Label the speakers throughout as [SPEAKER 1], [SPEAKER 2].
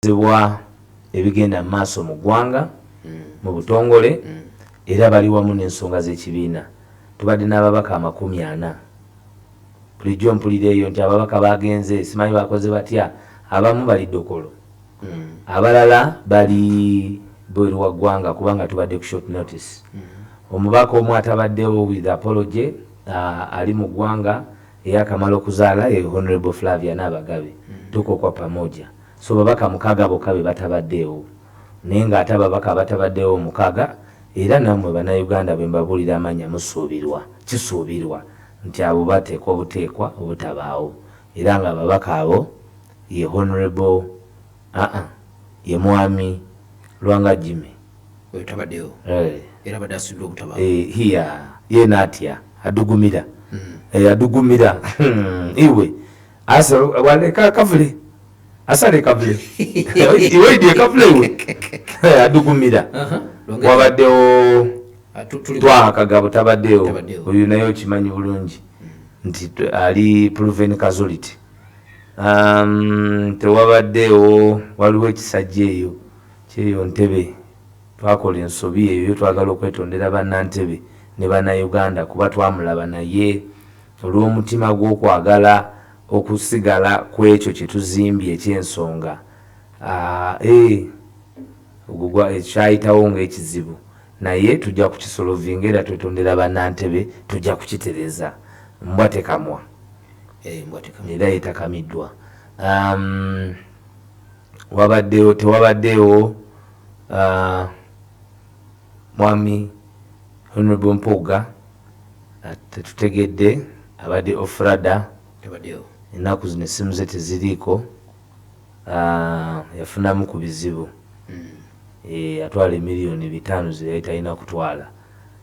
[SPEAKER 1] bakubirizibwa ebigenda mu maaso mu ggwanga mu butongole era bali wamu n'ensonga z'ekibiina. Tubadde n'ababaka amakumi ana. Bulijjo mpulira eyo nti ababaka baagenze, simanyi baakoze batya, abamu bali Dokolo, abalala bali bweru wa ggwanga kubanga tubadde ku short notice. Omubaka omu atabaddewo with apology ali mu ggwanga eyakamala okuzaala ye Honourable Flavia Naabagabe, tuko kwa pamoja. So babaka mukaga boka bebatabadewo naye nga ate ababaka abatabadewo mukaga era namwe bana Uganda bwembabulira amanya musuubirwa, kisuubirwa, nti abo batekwa butekwa obutabaawo era nga ababaka abo ye Honourable aa ye mwami Lwanga Jimmy. Oyo tabadewo
[SPEAKER 2] era abadde asuubirwa obutabaawo. Eeh hiyaa
[SPEAKER 1] yena atya adugumira eeh adugumira iwe. Asa wale ka kavule. Asa le kavule. Iwe idie kavule iwe. Adugumira. Uh-huh. Wabadeo. Ah, Twa kagabo tabadeo. Uyu nayo chimanyi bulungi. Nti ali proven casualty. Um, tewabadeo waliwe kisajeyo. Cheyo ntebe. Twakola ensobi eyo twagala okwetondera banna ntebe ne banna Uganda kuba twamulaba naye. Olw'omutima gw'okwagala okusigala ku ekyo kye tuzimbye eky'ensonga, a, e, ogwo gwa, ekyo kyayitawo nga ekizibu, naye tujja kukisolovinga era twetondera ba Nantebe, tujja kukitereza. Mbwa tekamwa. Embwa tekamwa. Era etakamiddwa. Um, wabaddewo, tewabaddewo, uh, Mwami Honourable Mpuuga. Tetutegedde abade ofrada enaku zino esimu ze teziriiko yafunamu ku bizibu yatwala emiliyoni bitaano ze yali talina kutwala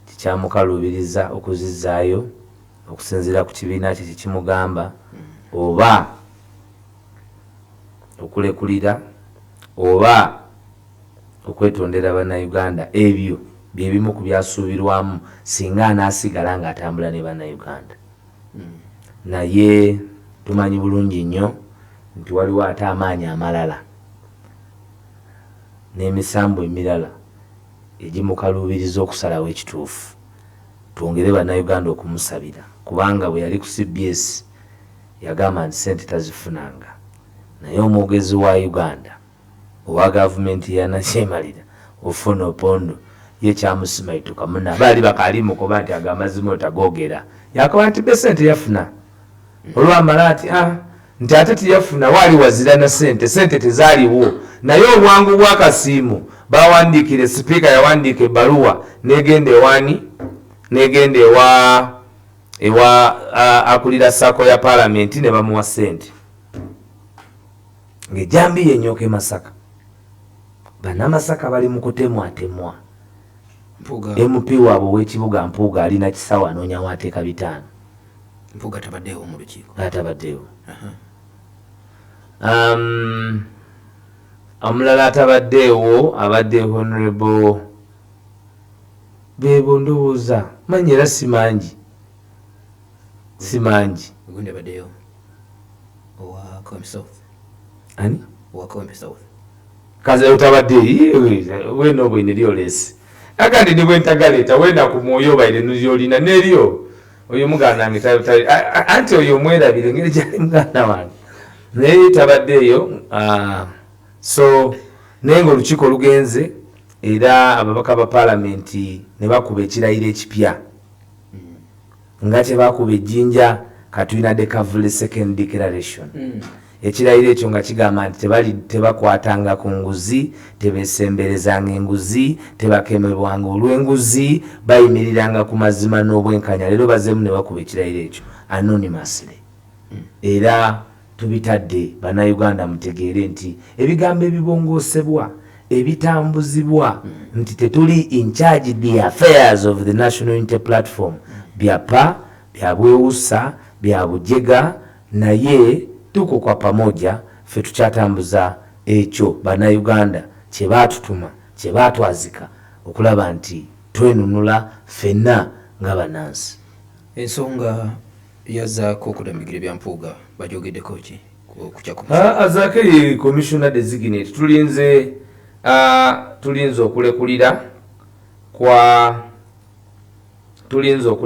[SPEAKER 1] nti kyamukaluubiriza okuzizzaayo okusinziira ku kibiina kye kye kimugamba oba okulekulira oba okwetondera bannayuganda ebyo bye bimu ku byasuubirwamu singa anaasigala ng'atambula ne bannayuganda naye tumanyi bulungi nnyo nti waliwo ate amaanyi amalala n'emisambwa emirala egimukaluubiriza okusalawo ekituufu. Twongere bannayuganda okumusabira kubanga bwe yali ku cbs yagamba nti ssente tazifunanga naye omwogezi wa Uganda, Owa gavumenti ya nakyemalira Ofwono Opondo ye kyamusimaituka mune abaali bakaali mukoba nti ago amazima otagogera yakoba nti be sente yafuna olwamala ati a nti ate teyafuna waali wazira na sente sente tezaliwo naye obwangu bwa kasiimo bawandiikire sipiika yawandiika ebaluwa negenda ewani negenda ewa ewa akulira sacco ya palamenti nebamuwa sente. Ng'ejjambiya ennyooka e Masaka, Bannamasaka bali mu kutemwatemwa. MP waabwe ow'ekibuga Mpuuga ali na kisawo anoonya w'ateeka bitaano. Mpuuga
[SPEAKER 2] tabaddeewo mu lukiiko. Atabaddeewo.
[SPEAKER 1] Um, omulala atabaddeewo abadde honorable beebo ndowooza manyi era si mangi. si
[SPEAKER 2] mangi Ugundi abaddeyo owa Kawempe South. ani
[SPEAKER 1] Owa Kawempe South.
[SPEAKER 2] kaza
[SPEAKER 1] otabadde wena obwe nilyo lesi agandi ni bwentagaleta wena ku mwoyo obaire nulyolina nelyo oyo muganda wange ta- ta- a- a- anti oyo omwerabire ngeri gyali muganda wange naye tabaddeeyo ah, so naye nga olukiiko lugenze era ababaka ba palamenti ne bakuba ekirayiro ekipya Nga tebakuba ejjinja katulina de kavule second declaration ekirayiro ekyo nga kigamba nti tebali tebakwatanga ku nguzi tebesemberezanga enguzi tebakemebwanga olw'enguzi bayimiriranga ku mazima n'obwenkanya leero bazeemu ne bakuba ekirayiro ekyo anonymously era Tubitadde banauganda mutegeere nti ebigambo ebibongoosebwa, ebitambuzibwa nti tetuli in charge the affairs of the National Unity Platform byapa, bya bwewussa, bya bujega naye tuko kwa pamoja ffe tukyatambuza ekyo banauganda kye baatutuma, kye baatwazika okulaba nti twenunula ffenna nga banansi.
[SPEAKER 2] Ensonga. yazzaako okudamigira ebya Mpuuga bajogeddeko ki okukya ku ah, ah,
[SPEAKER 1] Zaake ye commissioner designate tulinze ah, tulinze okulekulira kwa tulinze okule